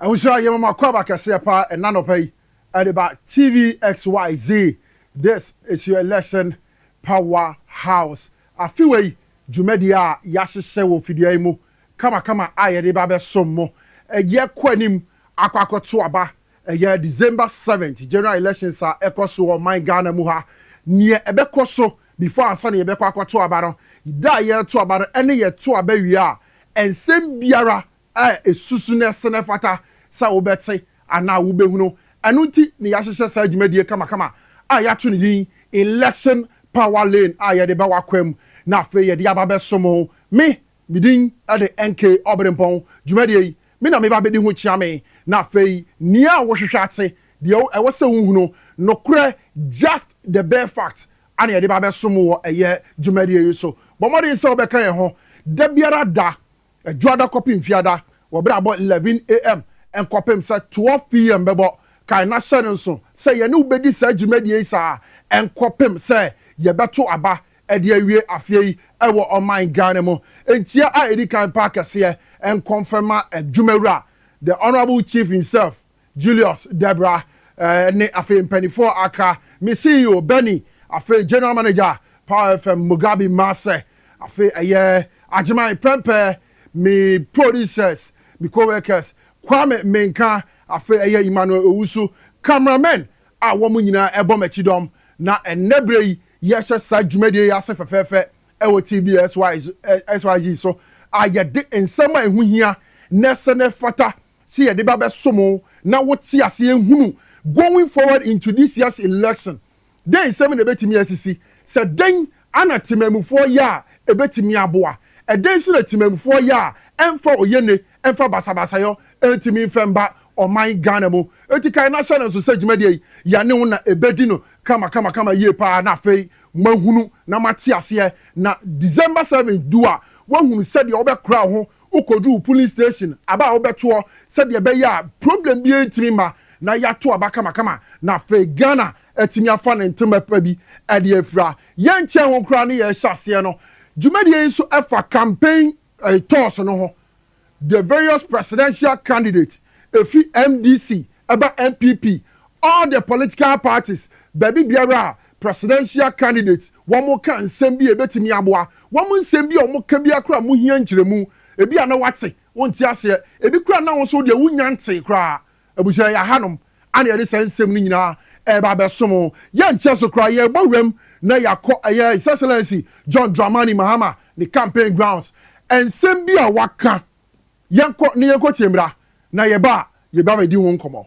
Abusua yɛma mo akwaaba kɛseɛ paa ɛna anɔpa yi ɛde ba TVXYZ this is your election power house afe wei dwumadie a yahyehyɛ wɔ fidua yi mu kama kama a yɛde ba bɛsom mo ɛyɛ kɔ anim akɔ akɔ to aba ɛyɛ December seventh general elections a ɛkɔ so wɔ ɔman Ghana mu ha neɛ ɛbɛkɔ so before ansa na yɛbɛkɔ akɔ to aba no da a yɛto aba no ɛne yɛto aba wie a ɛnsɛm biara a esusu na ɛsen ɛfata sɛ wobɛte anaa wobɛhunu. Ɛno nti na yɛahyehyɛ saa dwumadie kamakama a yɛato no din Election Power Lane a yɛde ba w'akwam na afei yɛde aba bɛso mo. Me, me din de NK Obirempɔn. Dwumadie yi, me na meba bɛdi ho kyea me na afei nea a wohwehwɛ ate, deɛ ɛwɔ sɛ wohunu, nokorɛ, just the bare fact, a na yɛde ba bɛso mo wɔ ɛyɛ dwumadie yi so. Bɔ mmɔden sɛ wobɛka yɛn ho da biara da Adwuada kɔpem Fiada, wɔ berɛ a bɔ 11 AM nkɔpem sɛ 12 PM bɛbɔ. Kae na hyɛ no nso sɛ yɛne wo bɛdi saa dwumadie yi saa ara nkɔpem sɛ yɛbɛto aba de awie afeɛ yi wɔ ɔman Ghana mu. Nkyia a ɛdi kan paa kɛseɛ nkɔmfɛma Adwumawura, The Honourable Chief himself. Julius, Debra, eh, ne afei mpaninfoɔ a aka, me CEO, Bennie, afei General Manager, Power FM, Mugabi Maase, afei ɛyɛ Agyeman, Prempeh, me producers, me co-workers, Kwame Menka, afei ɛyɛ Emmanuel Owusu, camera men a wɔn nyinaa ɛbɔ m'akyi dɔm, na ɛnnɛ berɛ yi yɛhyɛ saa dwumadie yi ase fɛfɛɛfɛ ɛwɔ TBS YZ so a yɛde nsɛm a ɛho hia na ɛsɛ na ɛfata Sɛ yɛde ba bɛsom wo na wote aseɛ hunu Going Forward Into This Year's Election, Dɛn Nsɛm na Ɛbɛtumi Asisi? Sɛ Dɛn Ara Temammufoɔ Yɛ a Ɛbɛtumi Aboa? Ɛdɛn Nso na Temammufoɔ Yɛ a Ɛmfa Oyenni Mfa Basabasayɔ Ntumi Mfa Mma Ɔman Ghana Mu? Enti kae na hyɛ no nso sɛ dwumadie yi, yɛne wo na ɛbɛdi no kamakamakama yie pa ara na afei moahunu na moate aseɛ na December 7 du a, woahunu sɛdeɛ wobɛkora wo ho Wokodu police station aba a wobɛtoɔ sɛdeɛ ɛbɛyɛ a problem biara ntumi mma na yɛato aba kamakama na afei Ghana atumi afa ne ntema pa bi de afira. Yɛnkyɛɛ ho koraa ne yɛrehyɛ aseɛ no, dwumadie yi nso fa campaign tours no ho. The various presidential candidates, ɛfi MDC ɛba NPP, all the political parties, baabi biara a Presidential candidate wɔn ka nsɛm bi a ebetumi aboa wɔn nsɛm bi a wɔn ka biara koraa mu hia nkyerɛmu ebi a na wate wonte aseɛ ebi koraa na wo nso deɛ wonnya ntee koraa abusua yɛ ahanom ana yɛde saa nsɛm no nyinaa ɛreba abɛsom wo yɛnkyɛ so koraa yɛrebɔ wuram na yɛakɔ ɛyɛ His Excellency John Dramani Mahama ne campaign grounds nsɛm bi a waka yɛnkɔ na yɛnkɔ tie mmra na yɛba a yɛba bɛdi ho nkɔmmɔ.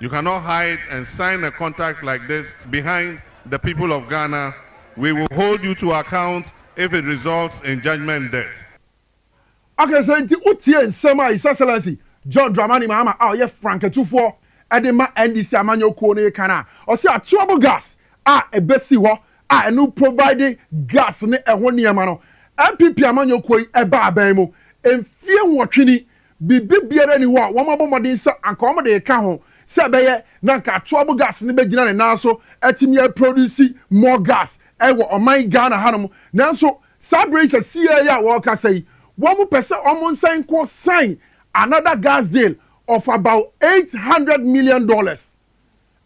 You cannot hide and sign a contact like this behind the people of Ghana, we will hold you to account if it results in judgement debt. Okay, sɛ nti wotie nsɛm a His Excellency John Dramani Mahama a ɔyɛ frankaatufoɔ de ma NDC amanyɔ kuo no reka no a, ɔse atuabo gas a ɛbɛsi hɔ a ɛno provide gas ne ɛho nneɛma no, NPP amanyɔ kuo yi ɛbaa bɛn mu mfeɛ nwɔtwe ni Biribi biara nni hɔ a wɔabɔ mmɔden sɛ anka wɔde reka ho sɛ ɛbɛyɛ na anka atoabo gas no bɛgyina ne nan so atumi aproduse more gas wɔ ɔman Ghana hanom. Nanso saa berɛ yi sɛsieɛ yi a wɔrekasa yi, wɔpɛ sɛ wɔsan nkɔ sign another gas deal of about eight hundred million dollars.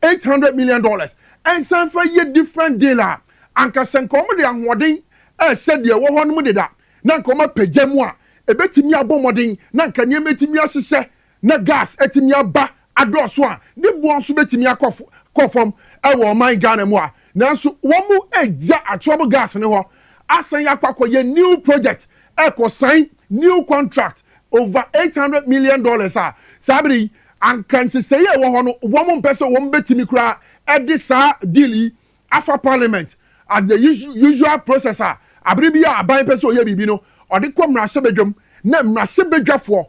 eight hundred million dollars nsan fa yɛ different deal a anka sɛ nka wɔn de ahoɔden ɛsɛ deɛ ɛwɔ hɔ nom deda na nka wɔn apagya mu a ɛbɛtumi abɔ mmɔden na nka nneɛma atumi ahyehyɛ na gas atumi aba adɔɔso a ne boɔ nso bɛtumi akɔ kɔ fam ɛwɔ ɔman Ghana mu a nanso wɔn agya atoɔbo gas no hɔ asan akɔ akɔ yɛ new project ɛkɔ sign new contract over eight hundred million dollars a, saa bere yi, anka nsesɛe a ɛwɔ hɔ no, wɔmpɛ sɛ wɔbetumi koraa de saa deal yi afa parliament as the usual process a bere biara a aban pɛ sɛ ɔyɛ biribi no, ɔde kɔ mmarahyɛbadwam na mmarahyɛbadwafoɔ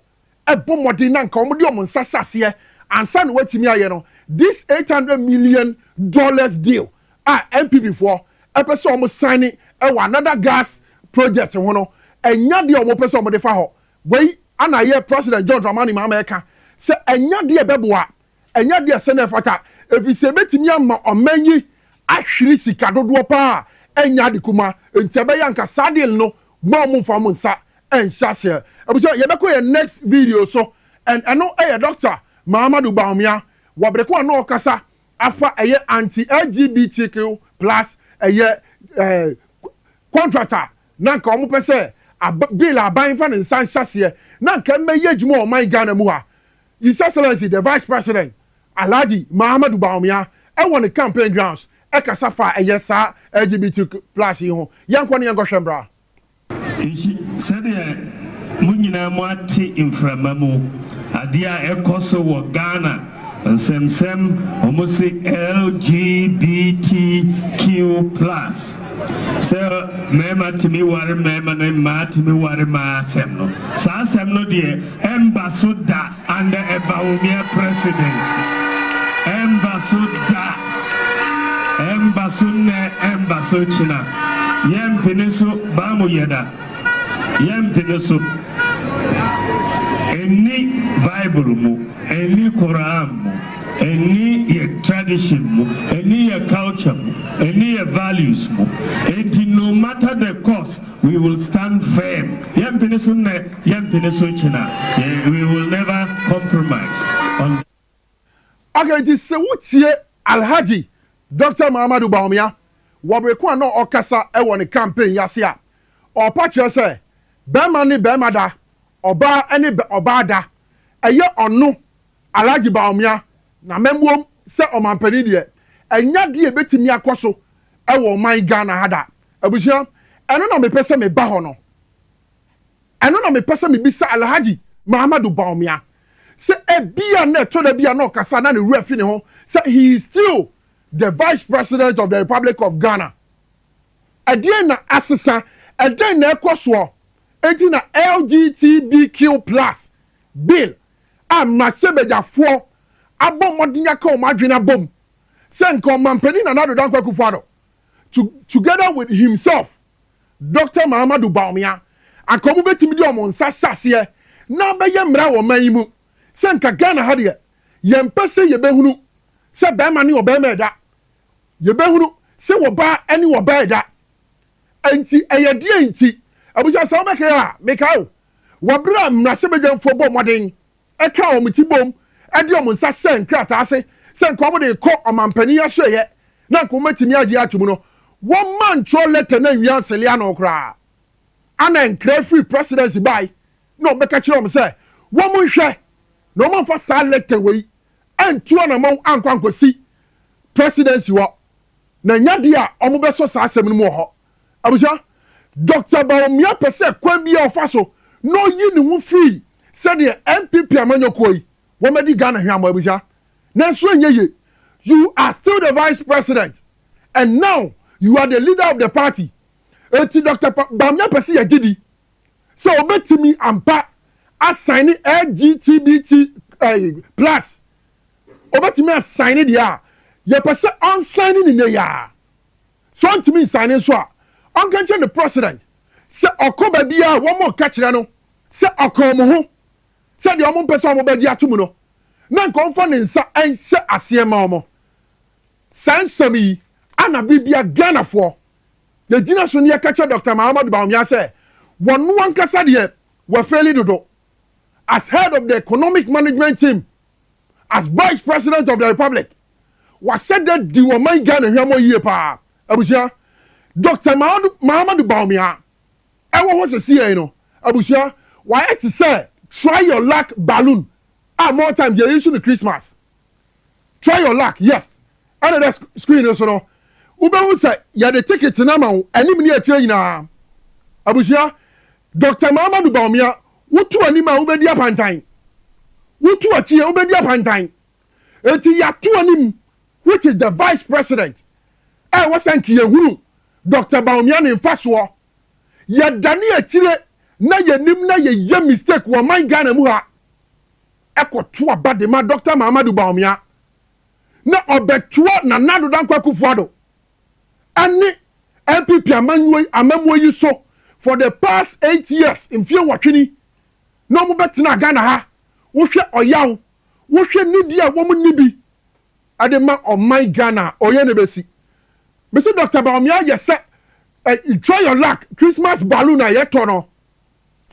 bɔ mmɔden na anka wɔde wɔn nsa hyɛ aseɛ ansa na wɔatumi ayɛ no. This eight hundred million dollars deal a NPP foɔ pɛ sɛ wɔn sign wɔ another gas project ho no ɛnyɛ adeɛ a wɔn pɛ sɛ wɔn de fa hɔ, wei na yɛ President John Dramani Mahama ɛka sɛ ɛnyɛ adeɛ a ɛbɛboa, ɛnyɛ adeɛ a ɛsɛ na ɛfata ɛfiri sɛ ɛbɛtumi ama ɔman yi ahwiri sika dodoɔ pa ara ɛnyɛ ade kumaa nti ɛbɛyɛ anka saa deal no mma wɔn mfa wɔn nsa nhyɛ aseɛ. Abusua yɛbɛkɔ yɛn next video so and ɛno yɛ Doctor Mahamadou Bawumia Wabreko a na ɔkasa afa ɛyɛ anti LGBTQ plus ɛyɛ contract a na nka wɔn pɛ sɛ bill a aban nfa ne nsa nhyɛ aseɛ na nka ɛmɛ yɛ adwuma wɔ ɔman Ghana mu ha His Excellency the Vice President Alhaji Mahamadu Bawumia ɛwɔ ne campaign grounds ɛkasa faa ɛyɛ saa LGBTQ plus yi ho yɛnkɔ ne yɛnkɔ hwɛ mmra. Nso sɛdeɛ mo nyinaa mo ate mframa mu adeɛ a ɛkɔ so wɔ Ghana nsɛmsɛm wɔn se LGBTQ plus sɛ mmarima tumi ware mmarima na mmaa tumi ware mmaa asɛm no saa asɛm no deɛ ɛmba so da. Under a Bawumia presidency, ɛmba so da, ɛmba so nnɛ, ɛmba so kyena, yɛmpene so, Bamu Yeda, yɛmpene so, ɛnni Bible mu, ɛnni Qur'an mu, ɛnni yɛ tradition mu, ɛnni yɛ culture mu, ɛnni yɛ values mu, enti no matter the cost, We will stand firm, yɛmpene so nnɛ, yɛmpene so kyena, we will never compromise on the. Okay, nti se wo tie Alhaji Doctor Mahamadou Bawumia wɔ bere ko a na ɔkasa wɔ ne campaign yi ase a, ɔpa kyerɛ sɛ barima ne barima da, ɔbaa ne ɔbaa da, ɛyɛ ɔno Alhaji Bawumia na mmamuom sɛ ɔmanpanin deɛ, ɛnyɛ adeɛ a ɛbɛtumi akɔ so wɔ ɔman Ghana ha da. Abusua, ɛno na mepɛ sɛ meba hɔ no. Ɛno na mepɛ sɛ mebisa Alhaji Mahamadou Bawumia sɛ ebia na ɛtɔ da bi a na ɔkasa a na ne werɛ fi ne ho sɛ he is still the Vice President of the Republic of Ghana. Ɛdeɛn na asesa? Ɛdɛn na ɛrekɔ soɔ? Enti na LGTBQ plus bill a mmarahyɛbadwafoɔ abɔ mmɔden aka wɔn adwene abom sɛ nka Ɔmanpanin Nana Addo Dankwa Akufo-Addo to together with himself Doctor Mahamadou Bawumia anka wɔn bɛtumi de wɔn nsa ahyɛ aseɛ na abɛyɛ mmara wɔ ɔman yi mu sɛ nka Ghana ha deɛ yɛmpɛ sɛ yɛbɛhunu sɛ barima ne ɔbarima ɛda, yɛbɛhunu sɛ wɔbaa ne wɔbaa ɛda. Ɛnti ɛyɛ deɛn nti? Abusua sɛ wobɛkae a mekae o, wɔ bere a mmarahyɛbadwamfoɔ bɔ mmɔden ka wɔn ti bom de wɔn nsa hyɛ nkrataa ase sɛ anka wɔde rekɔ ɔmampanin asoɛeɛ na anka wɔbɛtumi agye atom no, wɔmma ntwerɛ lɛtɛ no anwia nsele ano koraa. Ana nkra firi Presidency bae na wɔbɛka kyerɛɛ wɔn sɛ wɔnhwɛ na wɔamfa saa lɛtɛ wei antu anammɔn ankɔ ankɔsi Presidency hɔ, na ɛnyɛ adeɛ a wɔbɛsɔ saa asɛm no mu wɔ hɔ. Abusua, Dɔkta Bawumia pɛ sɛ kwan biara a ɔfa so na ɔyi ne ho firi sɛdeɛ NPP amanyɔkuo yi wɔadi Ghana hweammɔ abusua, nanso ɛnyɛ yie. You are still the vice president and now you are the leader of the party enti Dɔkta Bawumia pɛ sɛ yɛgye di sɛ ɔbɛtumi ampa asaine LGTBT ɛɛ plus ɔbɛtumi asaine deɛ a yɛpɛ sɛ ɔnsaine no nnɛ yi ara. Sɛ ɔntumi nsan no nso a, ɔnka nkyerɛ ne president sɛ ɔkɔ baabiara a wɔreka kyerɛ no sɛ ɔka wɔn ho sɛ deɛ wɔmpɛ sɛ wɔbɛgye atom no, na anka ɔmfa ne nsa nhyɛ aseɛ mma wɔn. Saa nsɛm yi ana bere biara Ghanafoɔ yɛgyina so na yɛka kyerɛ Doctor Mahamadou Bawumia sɛ wɔno ankasa deɛ wafeeli dodo as head of the economic management team as vice president of the republic. W'asɛdɛ di ɔman Ghana hwɛmɔ yie paa abusua. Doctor Mahamadou Bawumia ɛwɔ hɔ sesieɛi no abusua w'ayɛ te sɛ try your luck balloon a more times yɛ issue no Christmas. Try your luck yes ɛna ɛda screen no so no wobɛhu sɛ yɛde ticket no ama wo anim ne akyire nyinaa abusua. Doctor Mahamadou Bawumia wotu anim a wobɛdi apantan, wotu akyi a wobɛdi apantan. Enti yɛato anim which is the vice president a ɛwɔ sɛ nka yɛhunu Doctor Bawumia ne mfasoɔ. Yɛdane akyire na yɛnim na yɛyɛ mistake wɔ ɔman Ghana mu ha ɛkɔto aba de ma Doctor Mahamadou Bawumia na ɔbɛtoa Nana Addo Dankwa Akufo-Addo ɛne NPP amammuo yi so for the past eight years, mfeɛ nwɔtwe ni na wɔbɛtenaa Ghana ha. Wohwɛ ɔyaw wohwɛ nidi a wɔn nni bi de ma ɔman Ghana a ɔyɛ no bɛsi. Me se Doctor Bawumia yɛ sɛ eh, try your luck Christmas balloon a yɛtɔ no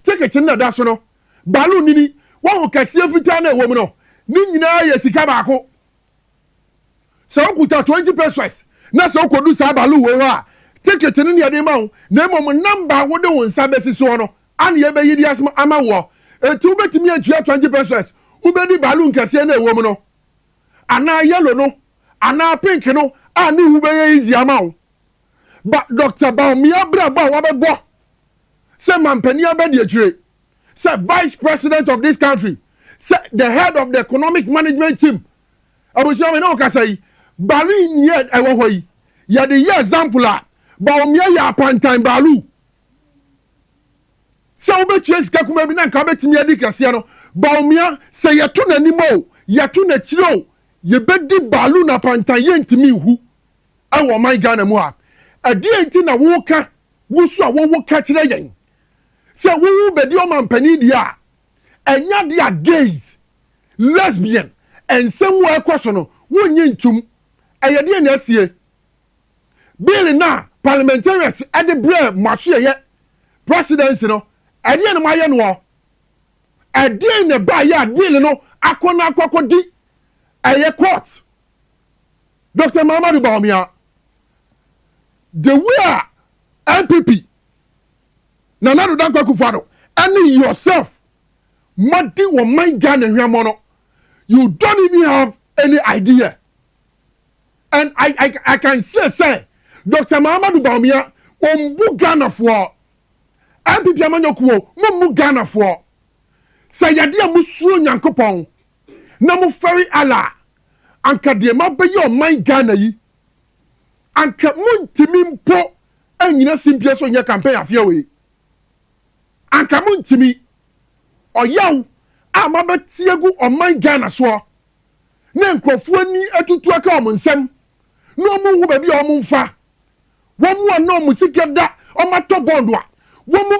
ticket no na da so no balloon nini wahu kɛseɛ fitaa na ɛwɔ mu no ne nyinaa yɛ sika baako. Sɛ wokuta twenty pesos na sɛ wukodu saa baaluu wei hɔ a, ticket no ne yɛde ma wo, na mmom namba a wode wo nsa besi soɔ no ara na yɛbɛyi de ama woɔ. Enti wubetumi atua twenty pesos, wubedi baaluu nkɛseɛ no a ɛwom no, anaa yellow no, anaa pink no a ne ho bɛyɛ easy ama wo. Ba Doctor Baumia abrabɔ a wabɛbɔ sɛ manpanin abadiakyire. sɛ vice president of this country sɛ the head of the economic management team abusua mi ne wo kasa yi baalu yi ni yɛ ɛwɔ hɔ yi yɛde yɛ example a baomia yɛ apantan baalu sɛ wobɛtua sika kuma bi na nka wobɛtumi adi kɛseɛ no baomia sɛ yɛto n'anim o yɛto n'akyiri o yɛbɛdi baalu na apantan yɛntumi nhu ɛwɔ ɔman ghana mu ha ɛdeɛ nti na woka wo so a wowo ka kyerɛ yɛn sɛ wowo bedi ɔmampanin deɛ a, ɛnyɛ adeɛ a gays, lesbian, nsɛm wɔ a ɛkɔ so no, wonnye ntom. Ɛyɛ deɛn na asie? Bill no a parliamentarians de brɛɛ mo asoɛeɛ presidency no, ɛdeɛn na moayɛ noɔ? Ɛdeɛn na ɛbaeɛ a bill no akɔ na akɔ akɔdi ɛyɛ court? Doctor Mahamadou Bawumia, the way a NPP Nana Addo Dankwa Akufo-Addo ɛne yourself mo adi ɔman Ghana hwɛmɔ no you don't even have any idea and I, I, I can say sɛ Dr. Mahamadou Bawumia ɔmbu Ghanafoɔ NPP amanyɔkuo mo mmu Ghanafoɔ sɛ yɛde a mosuo Nyankopɔn na mofɛre Allah anka deɛ mabɛyɛ ɔman Ghana yi Anka montumi mpo nnyina simpie so nyɛ campaign afeɛ wei. Anka montumi. Ɔyaw a moabɛte agu ɔman Ghana soɔ na nkurɔfoɔ ani atutu aka wɔn nsam na wɔn nhu baabi a wɔn mfa. Wɔn a na wɔn sika da wɔn atɔ bond a wɔn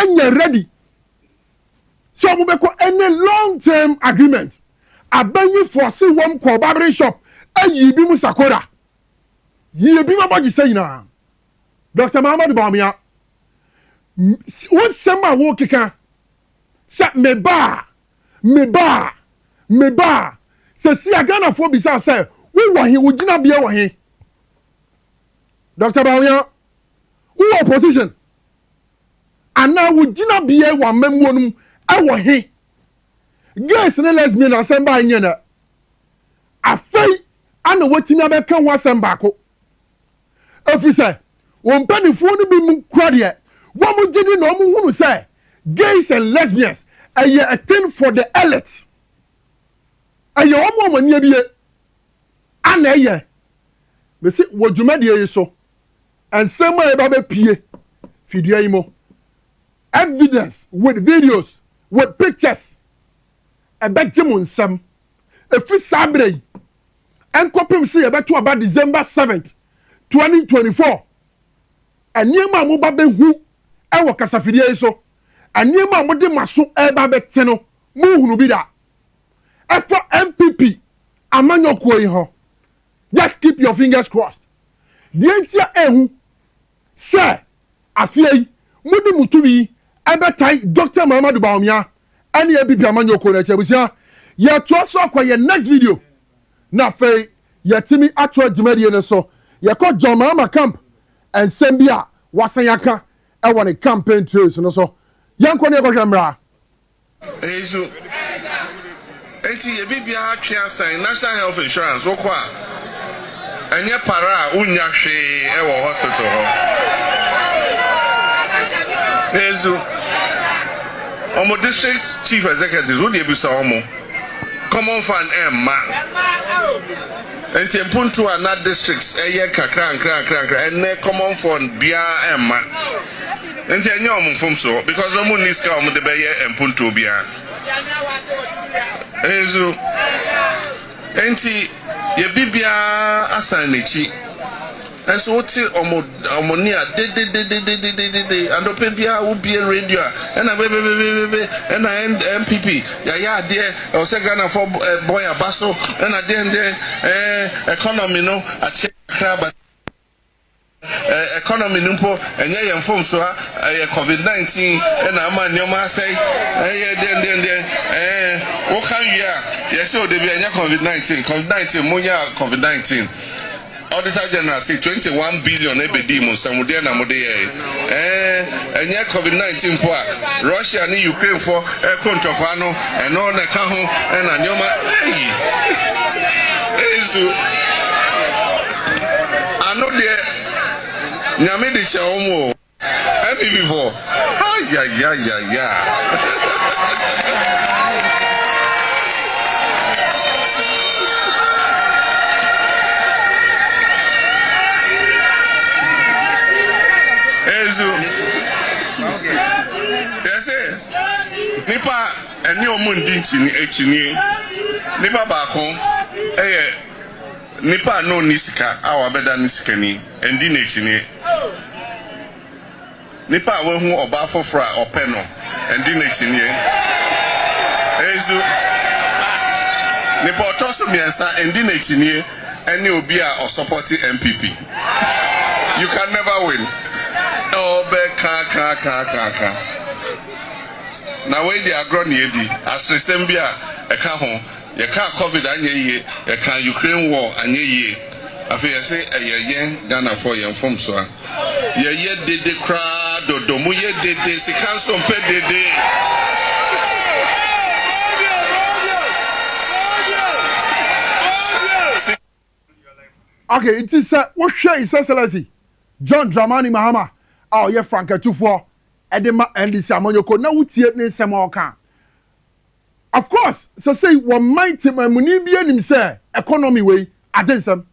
anya ready. sɛ ɔmo bɛkɔ ɛne long term agreement abɛnyi fɔse wɔm kɔɔ barbering shop ɛyii bi mu sakora yie bi ma bɔgye sɛ nyinaa Doctor Mahamadu Bawumia wo nsɛm a wo keka sɛ me baa me baa me baa sɛ si a Ghana foɔ bisaa sɛ wo wɔ he wo gyina beɛ wɔ he Doctor Bawumia wo wɔ opposition. anaa wo gyinabea wɔ amammuo no mu ɛwɔ he? Gays ne lesbian asɛm bae nyɛ nnɛ. Afei na wɔatumi abɛka ho asɛm baako. Ɛfiri sɛ wɔn mpanimfoɔ no binom kura deɛ wɔn gye di na wɔn hunu sɛ gays and lesbians ɛyɛ a thing for the elite. Ɛyɛ wɔn a wɔn ani abie a na ɛyɛ. Mese wɔ dwumadie yi so Nsɛm a ɛba bɛpue fi dua yi mu, evidence with videos, with pictures, ɛbɛgye mo nsam. Ɛfiri saa berɛ yi nkɔpem sɛ yɛbɛto aba December 7th, 2024, nneɛma a moba bɛhu wɔ kasafidie yi so, nneɛma a mode mo aso ɛreba bɛte no, monhunu bi da. Ɛfa NPP amanyɔkuo yi ho, Just keep your fingers crossed. Deɛ nti a ɛhu sɛ afeɛ yi mode mo tumi yi bɛtan Doctor Mahamadou Bawumia ɛne APP amanyɔkuo no akyi. Abusua, yɛtoa so akɔ yɛn next video na afei yɛtumi atoa dwumadie no so. Yɛkɔ John Mahama camp nsɛm bi a wasan aka ɛwɔ ne campaign trails no so. Yɛnkɔ ne yɛkɔhwɛ mmra. Eyi so nti yɛ biribiara twe asan National Health Insurance wokɔ a ɛnyɛ para a wonnya hwee wɔ hospital hɔ. Eyi so wɔn district chief executives wode abisa wɔn common fund ɛmma nti mpuntu a na districts ɛyɛ nkakra nkra nkra nkra ɛnɛ common fund biara ɛmma. Nti ɛnyɛ wɔn mfomsoɔ because wɔn nni sika a wɔn de bɛyɛ mpontuo biara. Nso nti yɛ bibiara asan n'akyi. Nso wote wɔn wɔn nne a dededededededede anɔpɛ biara wobie radio a ɛna bebebebebe ɛna NPP yɛayɛ adeɛ ɛwɔ sɛ Ghanafoɔ bɔ yɛn aba so ɛna deɛndeɛn ɛɛ economy no akyɛ kakra but Economy no mpo ɛnyɛ yɛn mfomso a ɛyɛ covid 19 na ama nneɛma asɛe ɛyɛ deɛn deɛn deɛn ɛɛ woka wie a yɛsɛ odebi ɛnyɛ covid 19 covid 19 monyɛ covid 19 Auditor General say 21 billion ɛbɛdii mo nsam deɛn na mode yɛɛ ɛɛ ɛnyɛ covid 19 mpo a Russia ne Ukraine fo ɛko ntɔkwa no ɛno na ɛka ho ɛna nneɛma ɛyi ɛyi so ano deɛ nyame de kyɛ wɔn o. NPP foɔ ayayayayaa. Ezu yɛse nipa ɛne ɔmo ndi nkyini akyinie nipa baako ɛyɛ. Nipa a na onni sika a wabɛda no sikani, ɛndi no akyinie. Nipa a wahu ɔbaa foforɔ a ɔpɛ no, ɛndi no akyinie. Nso, nipa ɔtɔ so mmiɛnsa ɛndi no akyinie ɛne obi a ɔsɔpɔte NPP. You can never win. Ɔbɛkakakakaka. Na wei deɛ agorɔ na yɛdi. Aseresɛm bi a ɛka ho Yɛkaa covid anyɛ yie, yɛkaa Ukraine war anyɛ yie, afei yɛse ɛyɛ yɛn Ghanafoɔ yɛn mfomsoa. Yɛyɛ dede koraa dodo, moyɛ dede, sika nso mpɛ dede. Ok, nti sɛ wohwɛ His Excellency John Dramani Mahama a ɔyɛ Franka-tufoɔ de ma NDC amanyɔkuo no na wotie ne nsɛm a ɔka a, Of course sɛsɛyi wɔ man tema muni biaa nim sɛ economy wei agye nsɛm.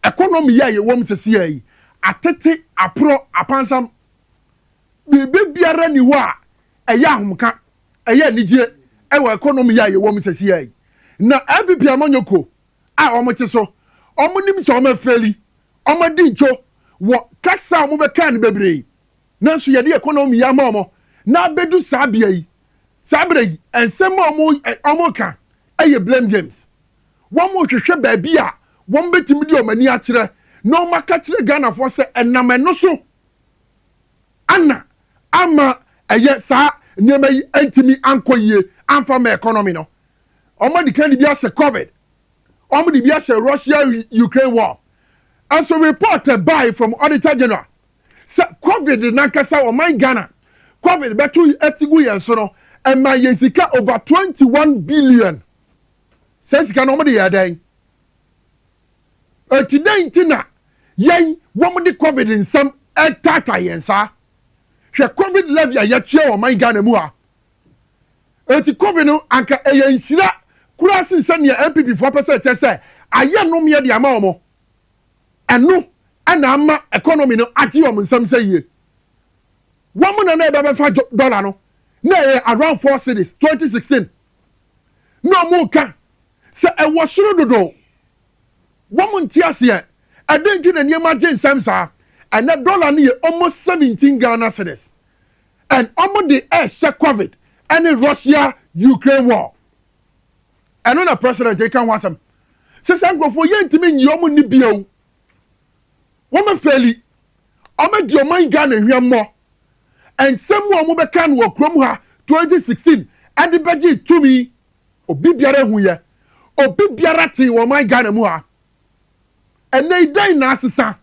Economy yi a yɛwɔ mu sɛsiaa yi atete, aporɔ, apansam. Biribi biara nni hɔ a ɛyɛ ahomka, ɛyɛ anigyie wɔ economy yi a yɛwɔ mu sɛsiaa yi. Na LPP amanyɔkuo a wɔn te so, wɔn nim sɛ wɔn afeeli, wɔn adi ntwo wɔ kasa a wɔn bɛkaa no bebree. Nanso yɛde yɛn kɔn na wɔn yɛ ama wɔn na abedu saa bea yi. Saa bere yi, nsɛm a wɔn ɛ wɔn ka yɛ blame games. Wɔn rehwehwɛ baabi a wɔn betumi de wɔn ani akyerɛ na wɔn aka kyerɛ Ghanafoɔ sɛ ɛnam ɛno so ana ama ɛyɛ saa nneɛma yi ntumi ankɔ yie amfa ma economy no. Wɔn adi kan de bi ahyɛ covid, wɔn de bi ahyɛ Russia Ukraine war. Nso report ɛbae from Auditor General Sɛ covid nankasa ɔman Ghana covid bɛto ti gu yɛn so no ɛmaa yɛn sika over twenty one billion saa sika no wɔn de yɛɛ dɛn eti dɛn nti na yɛn wɔn de covid nsɛm ɛtaata yɛn saa hwɛ covid levy a yɛtua wɔ ɔman Ghana mu a eti covid no anka ɛyɛ nhyira koraa sen sɛ nea NPP foɔ pɛ sɛ ɛkyɛ sɛ ayɛ nomeɛ de ama wɔn. Ɛno na ama economy no agye wɔn nsam sɛ yie. Wɔn na na ɛbɛbɛfa dollar no na ɛyɛ around four cedis twenty sixteen na wɔn reka sɛ ɛwɔ soro dodo. Wɔn nte aseɛ ɛdɛn nti na nneɛma agye nsam saa. Ɛnɛ dollar no yɛ almost seventeen Ghana cedis and wɔn de ɛrehyɛ covid ɛne Russia Ukraine war. Ɛno na president yi ka ho asɛm sɛ saa nkurɔfoɔ yɛntumi nyi wɔn nni bio. Wɔn afɛli, wɔn adi ɔman Ghana hwɛmmɔ. Nsɛm mu a wɔn bɛka no wɔ kurom ha 2016 ɛde bɛgye tumi. Obi biara ehu yɛ, obi biara tee wɔ ɔman Ghana mu ha. Ɛnɛ yi dɛn na asesa?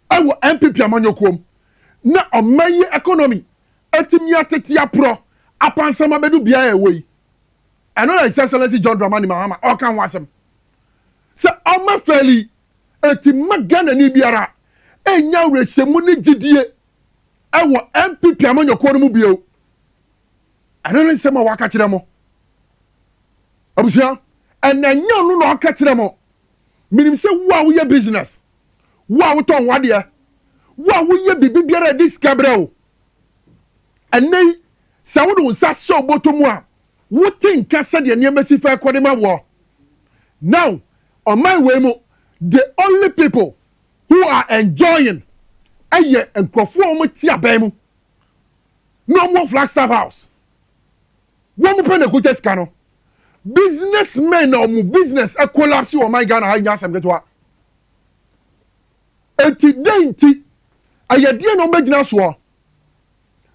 wɔ NPP amanyɔkuom na ɔman yi economy atumi atete aporɔ apansam abɛdu beaɛ a ɛwɔ yi. Ɛno na His Excellency John Dramani Mahama ɔɔka ho asɛm. Sɛ ɔma fɛɛli yi, enti mma Ghanani biara nnya awerɛhyɛmu ne gyidie wɔ NPP amanyɔkuo no mu bio. Ɛno ne nsɛm a waka kyerɛ mo. Abusua, ɛnna ɛnyɛ ɔno na ɔka kyerɛ mo Menim sɛ wo a woyɛ business, wo a wotɔn w'adeɛ, wo a woyɛ biribi biara a ɛde sika brɛ wo, ɛnnɛ yi, sɛ wode wo nsa hyɛ wo bɔtɔ mu a, wote nka sɛdeɛ nneɛma si fɛ kɔ de ma woɔ. Now, ɔman wei mu, the only people who are enjoying yɛ nkurɔfoɔ a wɔte aban mu na wɔwɔ Flagstaff House. Wɔn pɛ na ɛkuta sika no. Business men na wɔn business collapse wɔ ɔman Ghana ha nyɛ asɛm ketewa. Enti dɛn nti? Ɛyɛ deɛn na wɔbɛgyina soɔ?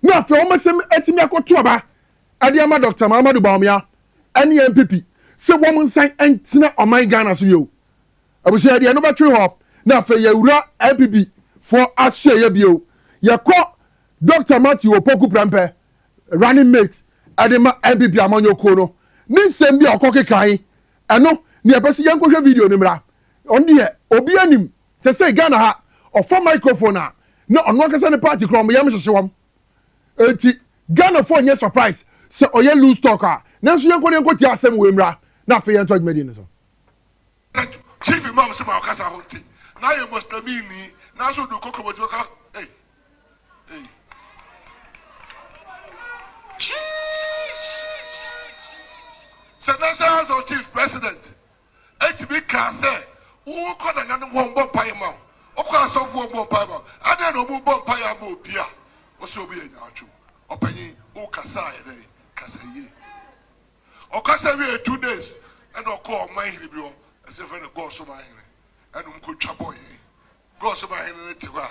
Na afei wɔn asɛm atumi akɔto aba ɛde ama Doctor Mahamadou Bawumia ɛne NPP sɛ wɔn nsan ntena ɔman Ghana so bio. Abusua yɛde yɛn bɛtwere hɔ na afei yɛwura NPP foɔ asoɛeɛ bio. Yɛkɔ Doctor Matthew Opoku Prempeh running mate de ma NPP amanyɔkuo no ne nsɛm bi a ɔkɔ kekae ɛno ne yɛpɛ sɛ yɛnkɔ hwɛ video no mmra ɔno deɛ obi anim sɛsɛi Ghana ha ɔfa microphone a na ɔno ankasa ne party kora ɔmo yam hyehye wɔm enti Ghana foɔ nyɛ surprise sɛ ɔyɛ loose talk a nanso yɛnkɔ na yɛnkɔ tie asɛm wei mmra na afei yɛnto adwumadie no so. Na chief imam se ma ɔkasa ho nti na yɛ Muslimi ni nanso odu koko bɔ gyimɛ kɔ ei ei. Sɛ National House of Chiefs president etumi kaa sɛ wokɔ na nyanom hɔ mbɔ mpaeɛ ma wo, wokɔ asɔfoɔ mbɔ mpaeɛ ma wo, adɛn na ɔmo bɔ mpaeɛ ama obi a ɔsɛ ɔmo yɛ nyaatwom? Ɔpanyin, wo kasaa yɛ dɛn? Kasa yie. Ɔkasa wiei two days ɛna ɔkɔɔ ɔman hene bi hɔ, ɛsɛ yɛfrɛ no Gɔs man hene, ɛna ɔmo kɔ twa bɔyɛ. Gɔs man hene no te hɔ a,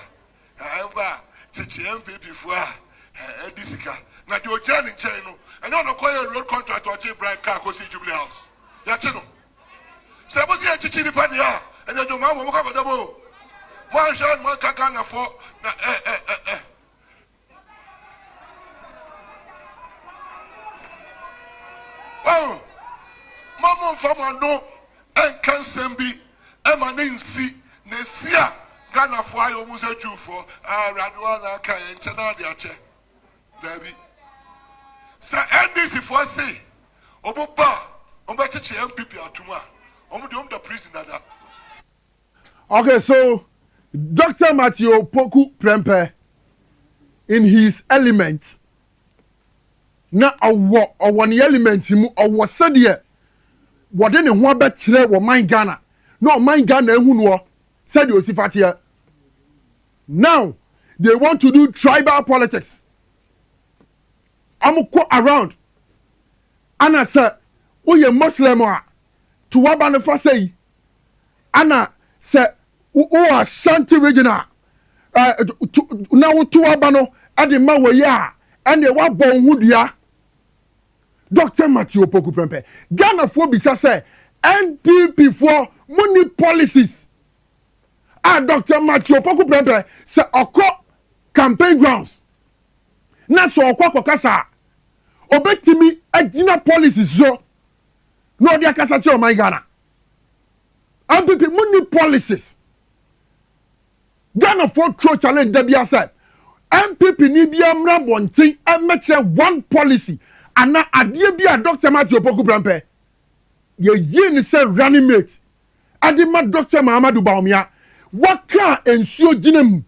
ɛɛ ɛba a kyekyee NPP foɔ a ɛɛ ɛdi sika. Na deɛ ɔgyina ne nkyɛn no, ɛnyɛ ɔna ɔkɔ yɛɛ road contract ɔgye Ibrahim kaa kɔsii Jubilee House. Yɛakye no. Sɛ mo se yɛn kyekye nipa deɛ a, ɛne adwuma mo, mo kɔ akɔda mu o. Mo anhwɛ a na mo anka Ghana foɔ na ɛɛ ɛɛ ɛɛ. Oh, ma mo nfa mo ano nka nsɛm bi ɛma ne nsi na esi a Ghana fo ayɛ ɔmo sɛ Jew fo ah awurade wa na aka yɛ nkyɛn na ade akyɛ daabi sɛ NDC fo se ɔmo ba ɔmo bɛkyekye MPP atum a ɔmo de ɔmo da prison dada. Okay so Doctor Matthew Opoku Prempeh in his element na ɔwɔ ɔwɔ ne element mu ɔwɔ sɛdeɛ wɔde ne ho abɛkyerɛ wɔ man Ghana na ɔman Ghana ehu noɔ sɛdeɛ osi fa teɛ now they want to do tribal politics wɔn kɔ around ana sɛ woyɛ Muslim a to waba no fa sɛ yi Ana sɛ wowɔ Ashanti region a, na woto w'aba no de ma wei a, ɛnneɛ woabɔ wo ho dua. Doctor Matthew Opoku Prempeh, Ghanafoɔ bisa sɛ NPP foɔ mo ni policies a Doctor Matthew Opoku Prempeh sɛ ɔkɔ campaign grounds na sɛ ɔkɔ akɔkasa a, ɔbɛtumi agyina policies so. na ɔde akasa kyerɛ ɔman ghana npp mo ni policies ghana fo tro challenge da bia sɛ npp ni bia mmra bɔnten mmɛkyerɛ one policy ana adeɛ bi a dr mati opoku prɛmpɛ yɛyie ne sɛ running mate ɛde ma dr mahamadu baomia waka nsuo gyina mu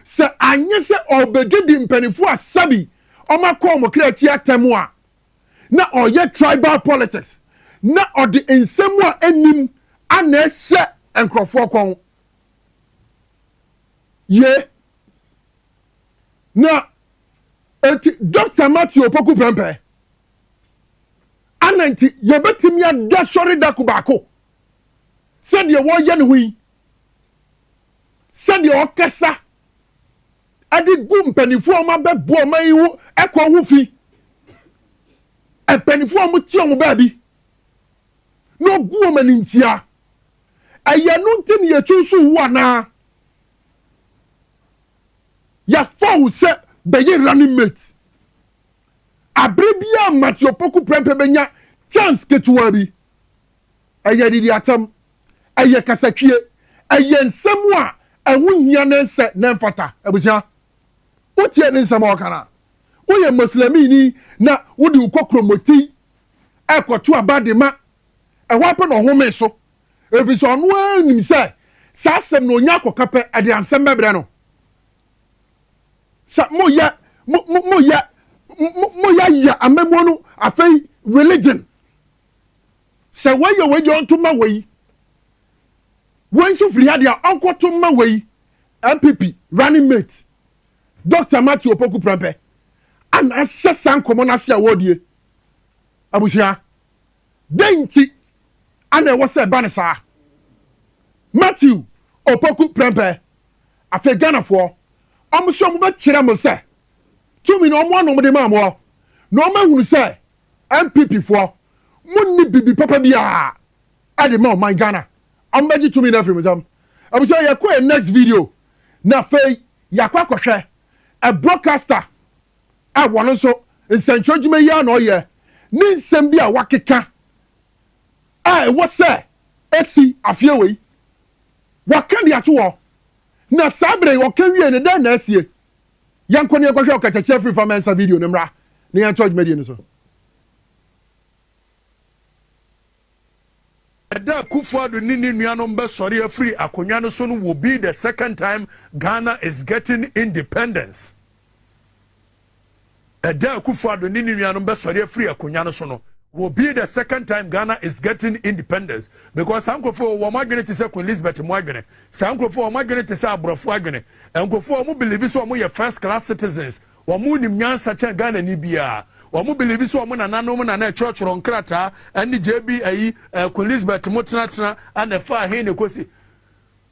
sɛ anyɛ sɛ ɔbɛdidi mpanimfoɔ a sɛbi ɔmakɔ ɔmo kra akyi atɛm a na ɔyɛ tribal politics na ɔde nsɛm a ɛnim ana ɛhyɛ nkurɔfoɔ kɔn. Ye. Na enti Dr. Matthew Opoku Prempeh ana nti yɛbɛtumi ada sɔre dako baako sɛdeɛ wɔyɛ ne ho yi, sɛdeɛ ɔkasa, de gu mpanimfoɔ a wɔabɛbɔ ɔman yi ho ɛkɔ ho fi. Mpanimfoɔ a wɔte wɔn baabi na wɔgu wɔn animtiaa. Ɛyɛ ɛno nti na yɛsusu wo anaa? Yɛafa wo sɛ bɛyɛ running mate. Abere biara Matthew Opoku prɛmpɛ bɛnya chance ketewaa bi. Ɛyɛ anidiatam, ɛyɛ kasatwie, ɛyɛ nsɛm a ɛho nhia na ɛnsɛ na ɛmfata. Abusua, wotie ne nsɛm a ɔka no a? Woyɛ Muslimini na wode wo kokromoti rekɔto aba de ma, ɛhɔ ara pɛ na ɔhome so, efisɛ ɔno ara nim sɛ saa asɛm no onya akɔka pɛ, ɛde ansɛm bɛbrɛ no. Sɛ moyɛ mo mo moyɛ mo moyɛ yɛ amammuo no afei religion. Sɛ wei yɛ wei deɛ ɔnto mma wei. Wei nso firi ha deɛ a ɔnkɔto mma wei. NPP running mate Doctor Matthew Opoku Prempeh na ahyɛ saa nkɔmmɔ no ase a wɔredie. Abusua, dɛn nti na ɛwɔ sɛ ɛba no saa? Matthew Opoku Prempeh, Afei Ghanafoɔ, wɔn nso wɔbɛkyerɛ mo sɛ tumi no wɔn ano wɔde maa mo na wɔahunu sɛ NPP foɔ mo nni bibi papa biaa ɛde ma ɔman Ghana ɔmo bɛgye tumi no afiri mo nsam abusua yɛ kɔ yɛ next video na afei yakɔ akɔ hwɛ ɛ broadcaster ɛ wɔno nso nsɛnkyerɛ dwuma yi ara na ɔyɛ ne nsɛm bi a wakeka a ɛwɔ sɛ ɛsi afeɛ wei waka de ato hɔ na saa berɛ yi ɔka wie no dɛn na asie Yɛnkɔ na yɛnkɔhwɛ ɔkatakyia firi fa mɛnsa video no mmra na yɛntoa dwumadie no so. Da a Kufuor Addo ne ne nuanom bɛsɔre afiri akonnwa no so no will be the second time Ghana is getting independence. Ɛda a Akufo Addo ne ne nuanom bɛsɔre afiri akonwa no so no will be the second time Ghana is getting independence because saa nkurɔfoɔ wɔ wɔn adwene te sɛ Queen Elizabeth mo adwene, saa nkurɔfoɔ wɔn adwene te sɛ aborɔfoɔ adwene, nkurɔfoɔ a wɔn believe sɛ wɔn yɛ first class citizens, wɔn nim nyansa kyɛn Ghanani biara, wɔn believe sɛ wɔn nananom na na ɛtwerɛtwerɛ nkrataa ɛne JB ayi, Queen Elizabeth mo tenatena ɛna ɛfaa he ne kɔsi.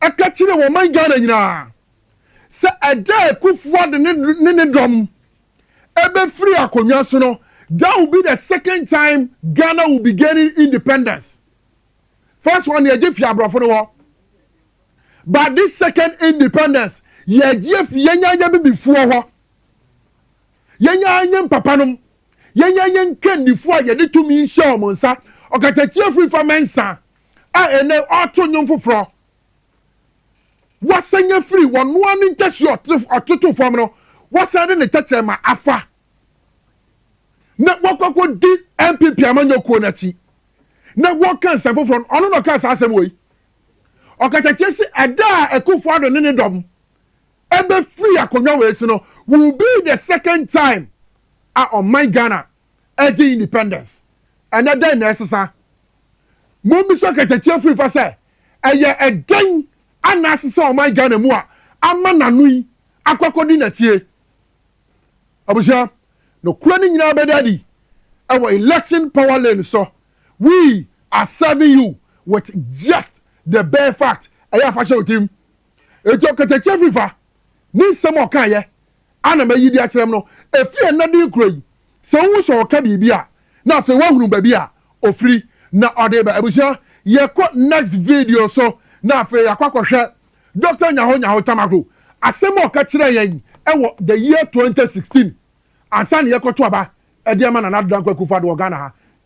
ka kyerɛɛ wɔ ɔman Ghana nyinaa sɛ ɛda a Akufo-Addo ne ne dɔm bɛfiri akonnwa so no, that will be the second time Ghana will be gaining independence. First one yɛgye fi aborɔfo no hɔ. But this second independence, yɛgye fi yɛnya yɛ bibifoɔ hɔ. Yɛnya yɛn papanom. Yɛnya yɛn kannifoɔ a yɛde tumi hyɛ wɔn nsa. Ɔkatakyie firi fa mɛnsa. a ɛnnɛ ɔreto nnwom foforɔ. Wasan afiri ɔno ara ne ntahyia a ɔtoto fam no, wasan de ne tɛkyerɛma afa na wakɔ akɔdi NPP amanyɔ kuo no akyi na wɔreka nsɛm foforɔ no, ɔno na ɔkaa saa asɛm wei. Ɔkatakyie se ɛda a Akufo Addo ne ne dɔm ɛbɛfiri akonnwa wei so no will be the second time a ɔman Ghana Ɛgye independence. Ɛnnɛ dɛn na ɛresesa? Mommisa katatia firifa sɛ ɛyɛ ɛdɛn na asesa ɔman Ghana mu a ama n'ano yi akɔ akɔdi n'akyie? Abusua, nokorɛ no nyinaa bɛda adi wɔ election power lane so. We are serving you with just the bare fact. Ɛyɛ a fa hyɛ wo tirim. Enti ɔkatakyie afiri fa ne nsɛm a ɔkaeɛ a na mayi de akyerɛ mo no, ɛfiri ɛnnɛ de rekɔ yi, sɛ wohu sɛ ɔreka biribi a, na afei woahunu baabi a ɔfiri na ɔde reba. Abusua, yɛkɔ next video so na afei yɛakɔ akɔhwɛ Doctor Nyaho Nyaho Tamaklo, asɛm a ɔka kyerɛɛ yɛn wɔ the year 2016 ansa na yɛkɔto aba de ama Nana Addo Dankwa Akufo-Addo wɔ Ghana ha.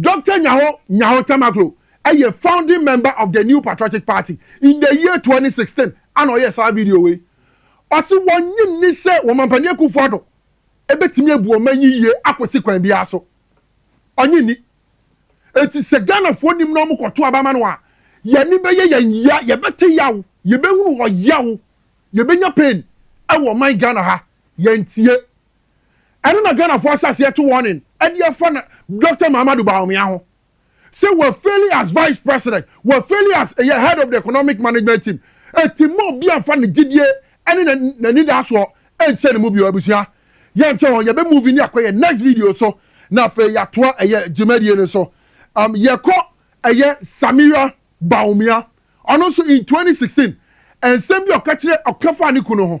Doctor Nyaho Nyaho Tamakloe yɛ founding member of the New Patriotic Party in the year twenty sixteen ana ɔyɛɛ saa video wei. Ɔse wɔnnye nni sɛ Wɔmampanin Akuffo Addo bɛtumi abu ɔman yi yie akɔsi kwan biara so. Ɔnnye nni. Enti sɛ Ghanafoɔ nim na wɔkɔto aba ma no a, yɛn ani bɛyɛ yɛn yea, yɛbɛte yaw, yɛbɛhunu ɔyaw, yɛbɛnya pain wɔ ɔman Ghana ha. Yɛntie. Ɛno na Ghanafoɔ ahyɛaseɛ to warning de afa na Doctor Mahamadou Bawumia ho sɛ wafeli as Vice President, wafeli as ɛyɛ Head of the Economic Management Team. Enti mma obi amfa ne gyedie ne n'anidaasoɔ nhyɛ ne mu bio abusua. Yɛnkyɛ hɔ, yɛbɛ move ni akɔ yɛn next video so na afei yɛatoa ɛyɛ dwumadie no so. Um, yɛkɔ ɛyɛ Samira Bawumia, ɔno nso in 2016 nsɛm bi a ɔka kyerɛ ɔka faa ne kunu ho.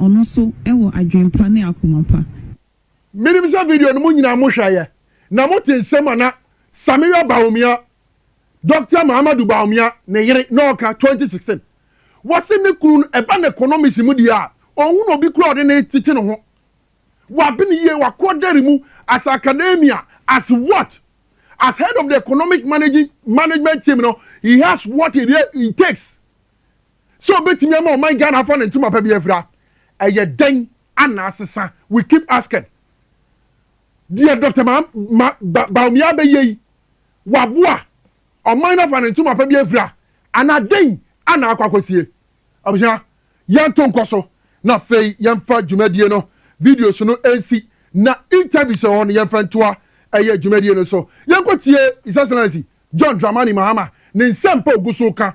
Ɔno nso wɔ adwene pa ne akoma pa. Menim sɛ video no mo nyinaa mo hwɛeɛ na mo te nsɛm a na Sameeya Bawumia, Doctor Mahamadou Bawumia ne yere, na ɔka, twenty sixteen, wɔse ne kunu no ɛba ne konomisi mu deɛ a, ɔnhunu obi koraa a ɔde ne tete ne ho. Wabene yie, wakɔ dɛre mu as academia, as what? As head of the economic managing, management team no, he has what it, it takes sɛ ɔbɛtumi ama ɔman Ghana afa ne ntoma pa bi afira ɛyɛ dɛn anaa sesa we keep asking deɛ Doctor ma ma ba Bawumia bɛyɛ yi waboa ɔman no afa ne ntoma pa bi afira anaa dɛn anaa akɔ akɔsie abusua yɛnto nkɔ so na afei yɛmfa dwumadie no videos no nsi na interviews ɛwɔ hɔ no yɛmfa ntoa ɛyɛ dwumadie no so yɛnkɔtie His Excellency John Dramani Mahama ne nsɛmpa ogu so ka